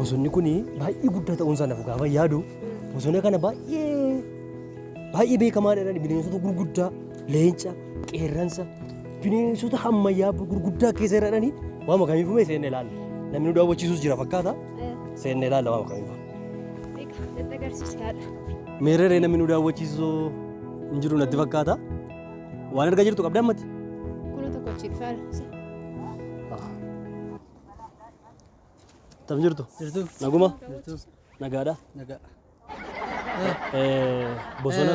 bosonni kun baay'ee guddaa ta'uun isaa naaf gaafa yaadu bosona kana baay'ee baay'ee beekamaa dha bineensota gurguddaa leenca qeerransa bineensota hammayyaa gurguddaa keessa jiraatanii waama kamiifuu mee seenne ilaalla namni nu daawwachiisus jira fakkaata seenne ilaalla waama kamiifuu. Meerree namni nu daawwachiisu hin jiru natti fakkaata. Waan argaa jirtu qabda ammatti? Kuna tokko achi faarsa. Tam jirtu? Jirtu. Naguma? Jirtu. Nagaadha? Nagaa. Bosona.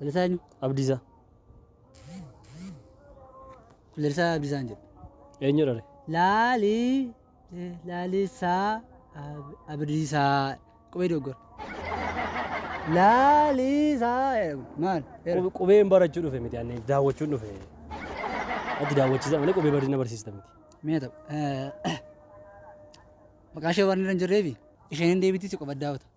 Lalisaa eenyu? Abdiisaa. Lalisaa Abdiisaan jedhu. Eenyu dhale? Laali eh, Lalisaa Ab- Abdiisaa qubee doggora. Lalisaa jedhamu. maal? Era. Qub- Qubeen barachuu dhufe miti ani daawwachuun dhufe. Ati daawwachiisa malee qubee badina barsiista miti. Mee ta'u. eh, Maqaa ishee waan irra hin jirreefi isheen hin deebitii si qofa daawwata.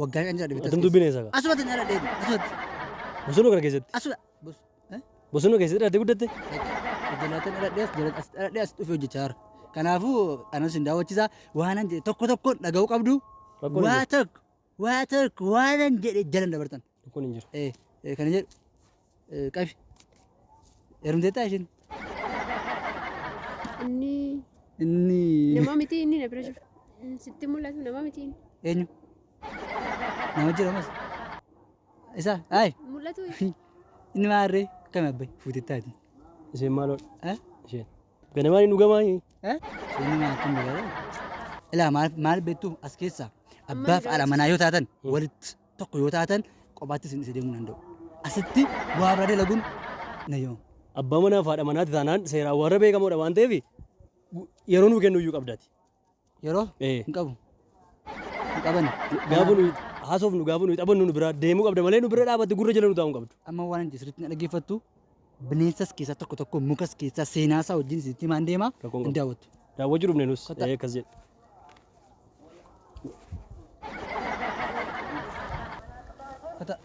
Waggaa shan jira dhibittas Atin dubbiin eessa gaa? Asumatti hin dhaladhee asumatti. Bosonuu kana keessatti. Asuma. Bos. Eh? Bosonuu keessatti dhalattee guddatte? Jalaataan dhaladhee as jalaataan as dhaladhee as dhufee hojjechaa jira. Kanaafuu anas hin daawwachiisa waanan jedhe tokko tokkoon dhaga'uu qabdu. Rakkoon hin Waa tokko waa tokko waanan jedhe jalan dabartan. Rakkoon hin jiru. Eh, eh, Kana jedhu Eh, Qabi. Heerumteettaa ishiin? Inni Inni nama miti inni na bira jiru. Inni Sitti mul'atu nama miti inni. eenyu? Nama jira mas. Isa ayi Mul'atu inni maarree akkami abbayi fuutettaati. Isheen maaloo Eh? isheen. Ganamaan hin dhugamaa hin. Eh? Inni maal akkam jedhaa? Ilaa maal maal beektu as keessaa abbaa fi haadha manaa yoo taatan walitti tokko yoo taatan qobaatti isin dhise deemuu danda'u. Asitti waa biraa dalaguun na yoo. Abbaa manaa fi haadha manaatti taanaan seeraan warra beekamoodha waan ta'eef yeroo nuu kennu iyyuu qabdati. Yeroo Eh. hin qabu. Hin qabani. Gaafa nuyi haasofnu gaafa nuyi taphannu nu biraa deemuu qabda malee nu bira dhaabatti gurra jala nu taa'uu hin qabdu. Amma waan hin jirre sirriitti na dhaggeeffattu. Bineensas keessaa tokko tokko mukas keessaa seenaa isaa wajjin isinitti himaan deema Rakkoon hin qabu. daawwattu. Daawwachuu dhufne nus. Kottaa. Ee, Akkas jedhe. Kota.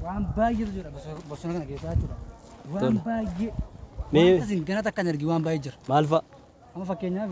Waan baay'eetu jira bosona- bosona kana keessaa jechuudha. Waan Tole. baay'ee. Mee- Wanta isin ganata akka hin argin waan baay'ee jira. Maal fa'a? Amma fakkeenyaaf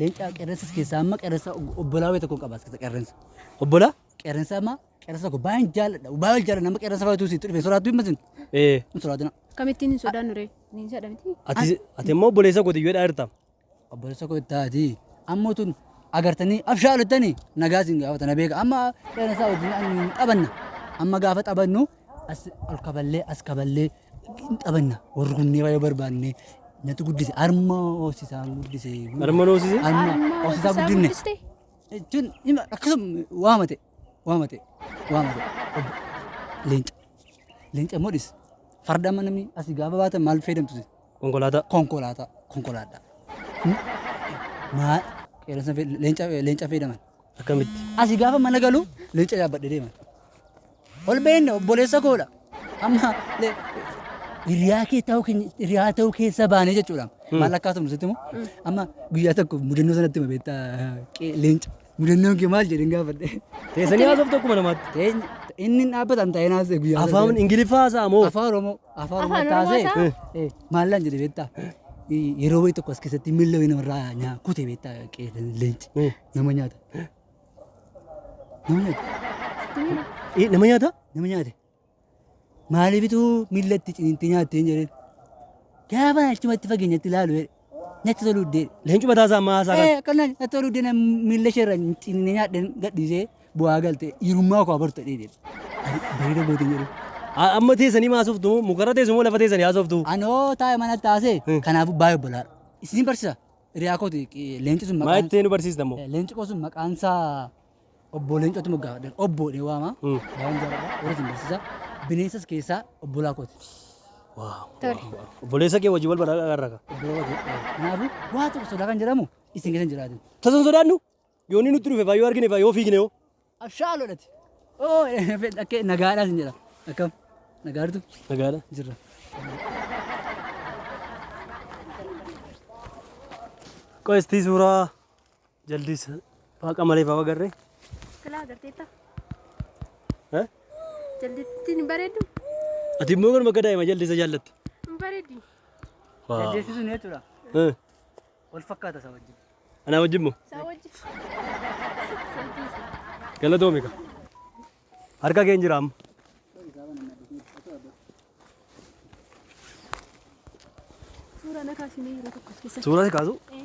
Leencaa qeerrensas keessaa amma qeerrensa obbolaa wayii tokko qaba as keessa qeerrensa. Obbolaa qeerrensa amma qeerrensa tokko baay'een jaalladha. Baay'een jaalladha amma qeerrensa fayyadu sitti dhufe soraattu hin masin. Ee. Hin soraatina. Akkamittiin hin sodaannu ree? Bineensadha miti. Ati ati immoo obboleessa kooti yoo dhaarta. Obboleessa koo ittaati. Amma tun agartanii abshaalottanii nagaa isin gaafata na beeka. Amma qeerrensa wajjin hin taphanna. Amma gaafa taphannu as ol kaballee as kaballee Hin taphanna. Warri kunnee baay'ee barbaanne natti guddise. Harma hoosisaan guddise. Harma hoosise? Harma hoosisaa guddinne. Jechuun hima akkasuma waama ta'e. Waama ta'e. Waama ta'e. Leenca. Leenca immoo dhis. Farda amma namni asii gaafa baatan maal fayyadamtu isin? Konkolaataa. Konkolaataa. Konkolaataa. Maa qeerransa fe- leenca leenca fayyadaman. Akkamitti? Asi gaafa mana galu leenca yaabbadhe deema. Ol beenne obboleessa koodha. Amma le- hiriyaa kee ta'uu keenya hiriyaa ta'uu keessa baanee jechuudha. Maal akka haasofnu sitti immoo amma guyyaa tokko mudannoo sanatti hima beektaa qee- leenca. Mudannoon kee maal jedheen gaafadhe. Teessanii haasoftu akkuma namaatti. Teenya inni hin dhaabbatan ta'ee naasee guyyaa sana. Afaan Ingiliffaa haasa'a moo? Afaan Oromoo. Afaan Afaan Oromoo Oromoo taasee. haasa'a? Eh. Maallaan jedhe beektaa? Yeroo wayii tokko as keessatti miilla wayii namarraa nyaa kute beektaa qeerran leenci nama nyaata. Nama nyaata. Eh, nama nyaata? Nama nyaate. Maaliifitu miilla itti ciniintee nyaatteen jedheen. Gaafa achumatti fageenyatti ilaalu jedhe. Natti toluu dee. Leencu mataa isaa ammaa haasaa kan. Eh, akkanaan natti toluu dee miilla isheerra ciniinee nyaadheen gadhiisee. Bu'aa galte hirummaa koo abarta dheedhe. Bareeda gootiin jedhu. Amma teessanii maasoftu moo mukarra teessu moo lafa teessanii haasoftu? Anoo taa'e mana taasee kanaafuu baay'ee obbolaadha. Isin barsiisa hiriyaa kooti leenci sun Maa maqaan itti nu barsiista moo? leenci koo sun maqaan isaa obbo leencootti moggaafadhe obbo dhee waama. Hmm. Baay'een jaalladha warra isin barsiisa. Bineensas keessaa obbolaa kooti. Tole. Obboleessa kee wajjin wal baraa garraaka. Obbolaa kooti. Kanaafuu waa tokko sodaa kan jedhamu isin keessa hin jiraatu. Tasan sodaannu? Yoo inni nutti dhufe faa yoo argine faa yoo fiigne hoo. Abshaaloo dhati. Oo dhakkee nagaadhaa sin jedha. Akkam nagaartu Nagaadha. jirra. Qo'istii suuraa jaldiis waaqa malee faa agarree. Silaa agarteetta. Eh? Jaldittiin hin bareeddu. Ati immoo garuma akka daa'ima jaldiisa jaallatte. Hin bareeddi. Jaldeessi sun jechuudha. Eh. Wal fakkaata isaa wajjin. Anaa wajjin moo? Isaa wajjin. Galatoomi ka. Harka kee hin jira amma. Suuraa na kaasimee yeroo tokko as keessatti. Suuraa si kaasu. Eh,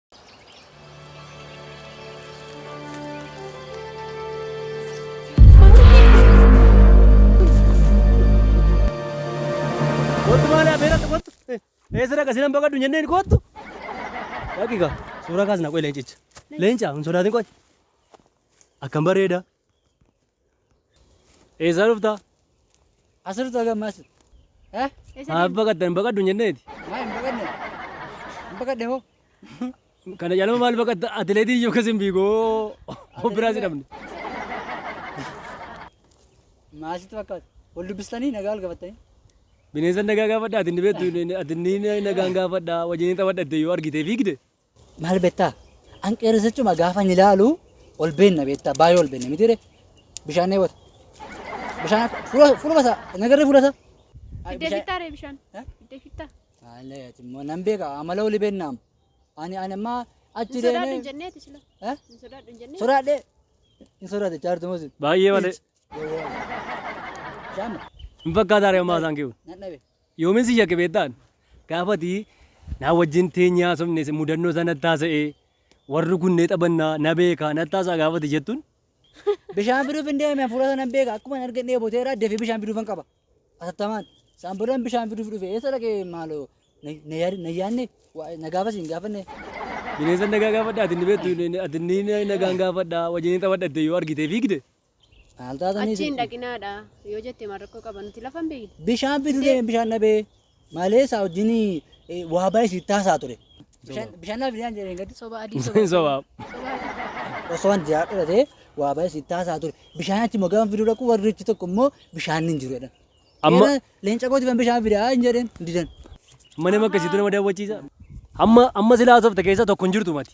Kottu maali afeerratti kottu. Eessa dhaqa sinan baqadhu hin jenneen kottu. Dhaqiqa suuraa kaasna qoy leencicha. Leenca hin sodaatin qoy. Akkam bareeda. Eessaa dhufta? As dhufta gamma as. Eh? Maaf baqatta hin baqaddu hin jenneeti. Maa hin baqanne? Hin baqanne hoo? Kana caalama maal baqatta atileetii iyyuu akkas hin fiigoo of biraa si dhabne. Maasitti fakkaata. Wal dubbistanii nagaa wal gafattanii. Bineensa nagaa gaafadha ati inni beektu ati inni nagaan gaafadha wajjin hin taphadha itti yoo argitee fiigde. Maal beektaa? An qeerrisichuma gaafa hin ilaalu ol beenna beektaa baay'ee ol beenne mitiire bishaan dheebota. Bishaan akka fuula fuula basa nagarree fuula isaa. Iddee fittaa ree bishaan. Eh? Iddee fittaa. Haalee ati immoo nan beeka amala oli beennaam. Ani ani ammaa achi Hin sodaadhu hin deemee. jenneeti sila. Eh? Hin sodaadhu hin jennee. Sodaadhee. Hin sodaate chaartu mosi. Baay'ee malee. Bishaan Hin fakkaataa ree ammaa isaan kiyyuu. nan dhabe. Yoomin si shakke beektaan? Gaafa ati naa wajjin teenyee haasofne si mudannoo isaa natti haasa'ee warri kun ni taphannaa na beekaa natti haasa'a gaafa ati jettun Bishaan fiduuf hin deeme hafuura sana hin beeka akkuma hin argin dheeboteera dafee bishaan fiduufan qaba. Atattamaan isaan boodaan bishaan fiduuf dhufe eessa dhaqee maaloo na- na yaad- na yaadne waa- na gaafas hin gaafanne. bineensa nagaa gaafadha ati ni beektu ati ni nagaan gaafadha wajjin ni taphadha itti yoo argitee fiigde Maal taatanii Achi hin sitti? dhaqinaadha yoo jette maal rakkoo qaba nuti lafa hin beekne. Bishaan fidu Indee. deeme bishaan dhabee. Malee isaa wajjin eh, waa baay'ee sitti haasaa ture. Bishaan bishaan naaf fidaan jedheen gaddi. Soba adii soba. Soba. Osoo wanti yaa dhufate waa baay'ee sitti haasaa ture. Bishaan achi immoo gaafa fiduu dhaqu warri achi tokko immoo bishaan hin jiru jedhan. Amma- Amma leenca kooti kan bishaan fidaa hin jedheen hin didan. Mana makkasiitu nama daawwachiisa. Amma amma silaa soofta keessaa tokko hin jirtu mati.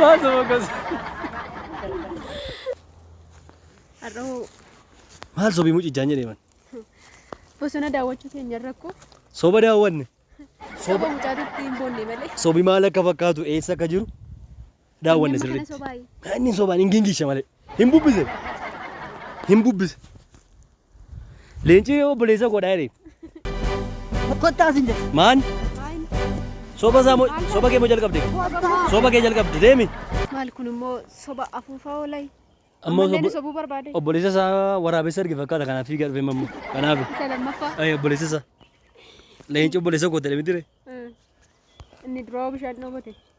Maasuma gosa. Har'oo Maal sobii mucichaan jedhee man. bosona daawwachuu keenya rakkoo Soba daawwanne. soba mucaatitti hin boonne malee. Sobi maal akka fakkaatu eessa akka jiru daawwanne Eeyyamni kana sirriitti. sobaayi. Haa, Inni hin sobaan hin gingishe malee. Hin bubbise. Hin bubbise. Leencii obboleessa koodha jedhe. Kottaa sin jedhe. Maan? Soba isaa moo soba kee moo jalqabde? Soba kee jalqabde deemi. Maal kun immoo soba afuufaa oolay. Amma Ammallee nu obbo- sobuu barbaade. obboleessa isaa waraabessa arge fakkaata kanaaf fiigaa dhufee mammu. Kanaaf Isa lammaffaa. Ay, obboleessa isaa. Leenci obboleessa koo ta'e miti ree. Inni duroo bishaan dhoobate.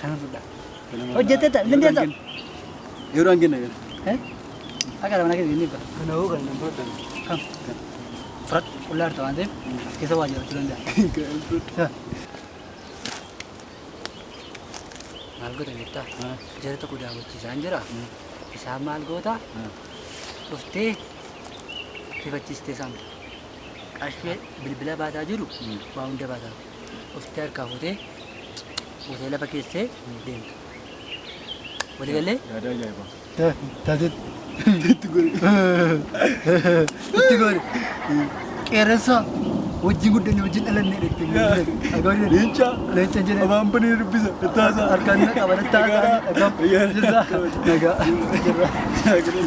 Kana fudhaa. Hojjetteetta, lindeessa. Yeroo hangin na gara. Akka dha mana keessa inni ibba. Kana hoo kan nan fudhatan. Kam? Fudhadhu. Qullaa jirta waan ta'eef as keessa waa jiraachuu danda'a. Maal goota beektaa? Jara tokko daawwachiisaan jira. Isaan maal goota? Dhuftee rifachiistee saamta. Qarshii bilbila baataa jiru waa hunda baataa. Dhuftee harkaa fuutee buutee lafa keessee deemta. Walii gallee? Yaada ajaa'ibaa. Taatee. Itti gori. Itti gori. Qeerransa wajjin guddanne wajjin dhalanne dhette. Leenca. Leenca jedhama. Abaan banee dubbisa. Tattaasaa. Harkaan na qaba. Tattaasaa. Nagaa. Nagaa. Nagaa. Nagaa.